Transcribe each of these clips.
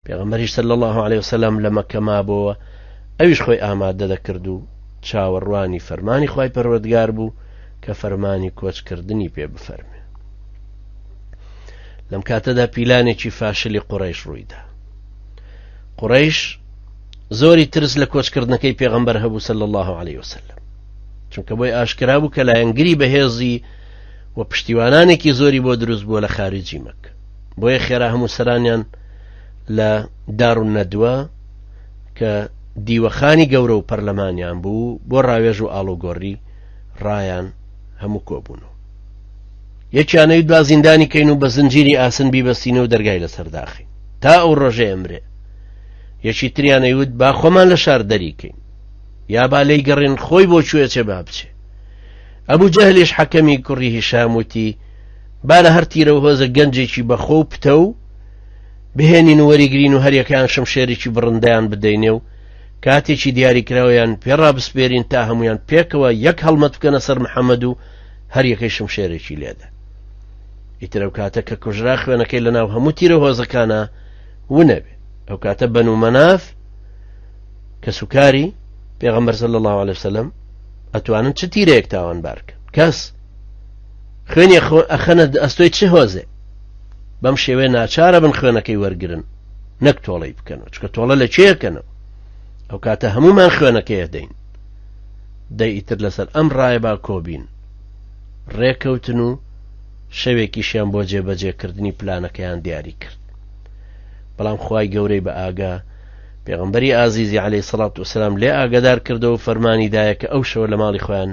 پێغەمبەریش صلی اللە علیە وسلم لە مەککە مابۆوە ئەویش خۆی ئامادە دەکرد و چاوەڕوانی فەرمانی خوای پەروەردگار بوو کە فەرمانی کۆچکردنی پێ بفەرمێ لەم کاتەدا پیلانێکی فاشلی قڕیش ڕوویدا قڕیش زۆری ترس لە کۆچکردنەکەی پێغەمبەر هەبوو سەل الله عليه وسلم چونکە بۆی ئاشکرا بوو کە لایەنگری بەهێزی و پشتیوانانێکی زۆری بۆ دروست بووە لە خارجی مەکە بۆیە خێرا هەموو سەرانیان لە دار و نەدووە کە دیوەخانی گەورە و پەرلەمانیان بوو بۆ ڕاوێژ و ئاڵوگۆڕی ڕایان هەموو کۆبوون و یەکیانەوی دوا زیندانی کەین و بە زنجیری ئاسن بیبەستینە و دەرگای لەسەر داخین تا ئەو ڕۆژێ ئەمرێ یەکی تریانەیوت با خۆمان لە شار دەریکەین یا با لی گەڕین خۆی بۆ کوێچێ با بچێ ئەبوو جەهلیش حەکەمی کوڕی هیشام وتی با لە هەر تیرە و هۆزە گەنجێکی بەخۆ و پتەو بهێنین و وەریگرین و هەریەکەیان شمشێرێکی بڕندەیان بدەینێ و کاتێکی دیاریکراویان پێڕا بسپێرین تا هەمویان پێکەوە یەک هەڵمەت بکەنە سەر محەممەد و هەریەکەی شمشێرێکی لێدا ئیترەو کاتە کە کوژرا خوێنەکەی لە ناو هەموو تیرە هۆزەکانە ونەبێ ئەو کاتە بەن و مەناف کە سوکاری پێغەمبەر سەل الله عليه وسلم ئەتوانن چ تیرەیەک تاوان بارکە کەس خوێنی خۆر ئەخەنە ئەستۆی چ هۆزێ بەم شێوێ ناچارە بن خوێنەکەی وەرگن نەک تۆڵەی بکەن و چکە تۆڵە لە چێکەنەوە ئەو کاتە هەمومان خوێنەکەیە دەین دەی ئیتر لەسەر ئەم ڕایە با کۆبین ڕێکەوتن و شەوێکیشیان بۆ جێبەجێکردنی پلانەکەیان دیاری کرد بەڵام خی گەورەی بە ئاگا پێغمبەری ئازیزی عليه سڵات وسلام لێ ئاگدار کردەوە فەرمانی دایە کە ئەو شەوە لە ماڵی خۆیان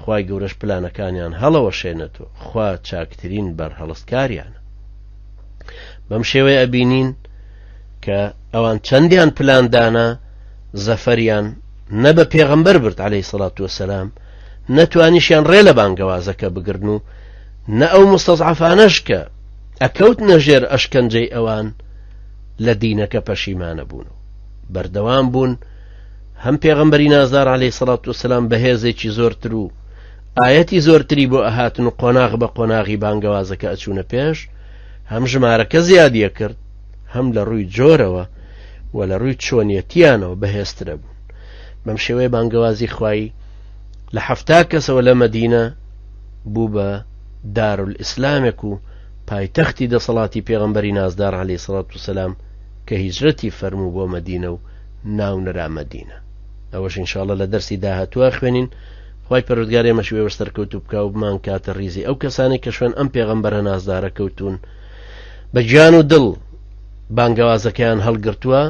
خوای گەورەش پلانەکانیان هەڵەوەشێنێتۆ خوا چاکترین بەرهەڵستکاریانە بەم شێوەی ئەبینین کە ئەوان چەندیان پلاندانە زەفەریان نە بە پێغەمبەر برد عليهەی سەڵات وسلام نەتوانیشیان ڕێ لە بانگەوازەکە بگرن و نە ئەو مستەزعفانەش کە ئەکەوت نەژێر ئەشکەنجەی ئەوان لە دینەکە پەشیمانە بوون و بەردەوام بوون هەم پێغەمبەری نازدار عەلەی سەڵات و سەسلام بەهێزێکی زۆرتر و ئاەتی زۆرتری بۆ ئەهاتن و قۆناغ بە قۆناغی بانگەوازەکە ئەچوونە پێش هەم ژمارەکە زیادیە کرد هەم لە ڕووی جۆرەوە و لە ڕووی چۆنیەتیانەوە بەهێزترە بوون بەم شێوەیە بانگەوازی خوایی لە حەفتا کەسەوە لە مەدینە بوو بە دارول ئیسلامێک و پایتەختی دەسەڵاتی پێغمبەری نازدار علی سڵات و سەسلام کە هیجرەتی فەرموو بۆ مەدینە و ناونرا مەدینە ئەوەش انشاءاللە لە دەرسی داهاتوە خوێنین خی پەرودگار ئێمەش وێوە سەرکەوتو بکە و بمان کاتە ریزی ئەو کەسانی کە شوێن ئەم پێغەمبەرە نازدارە کەوتون بە گیان و دڵ بانگەوازەکەیان هەڵگرتووە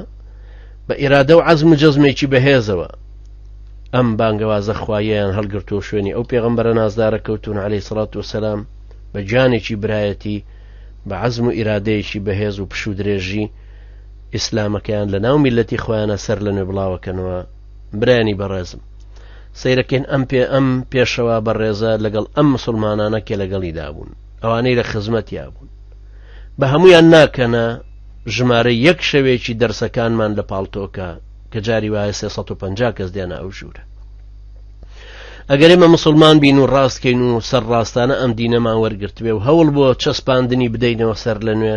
بە ئێرادە و عزم و جەزمێکی بەهێزەوە ئەم بانگەوازە خوایەیان هەڵگرتووە شوێنی ئەو پێغەمبەرە نازدارە کەوتون عليهەی سڵات و سەسلام بە گیانێکی برایەتی بە عزم و ئیرادەیەکی بەهێز و پشودرێژی ئیسلامەکەیان لە ناو میلەتی خۆیانە سەر لە نوێ بڵاوەکەنەوە برانی بەڕێزم سەیرەکەین ئەم پێ ئەم پێشەوە بەڕێزە لەگەڵ ئەم مسلمانانە کێ لەگەڵی دابوون ئەوانەی لە خزمەتیا بوون بە هەمویان ناکەنە ژمارە یەک شەوێکی دەرسەکانمان لە پاڵتۆکە کە جاری وایە 350 کەس دێنە ئەو ژوورە ئەگەر ئێمە مسلمان بین و ڕاستکەین و سەر ڕاستانە ئەم دینەمان وەرگرتبێ و هەوڵ بۆ چەسپاندنی بدەینەوە سەر لە نوێ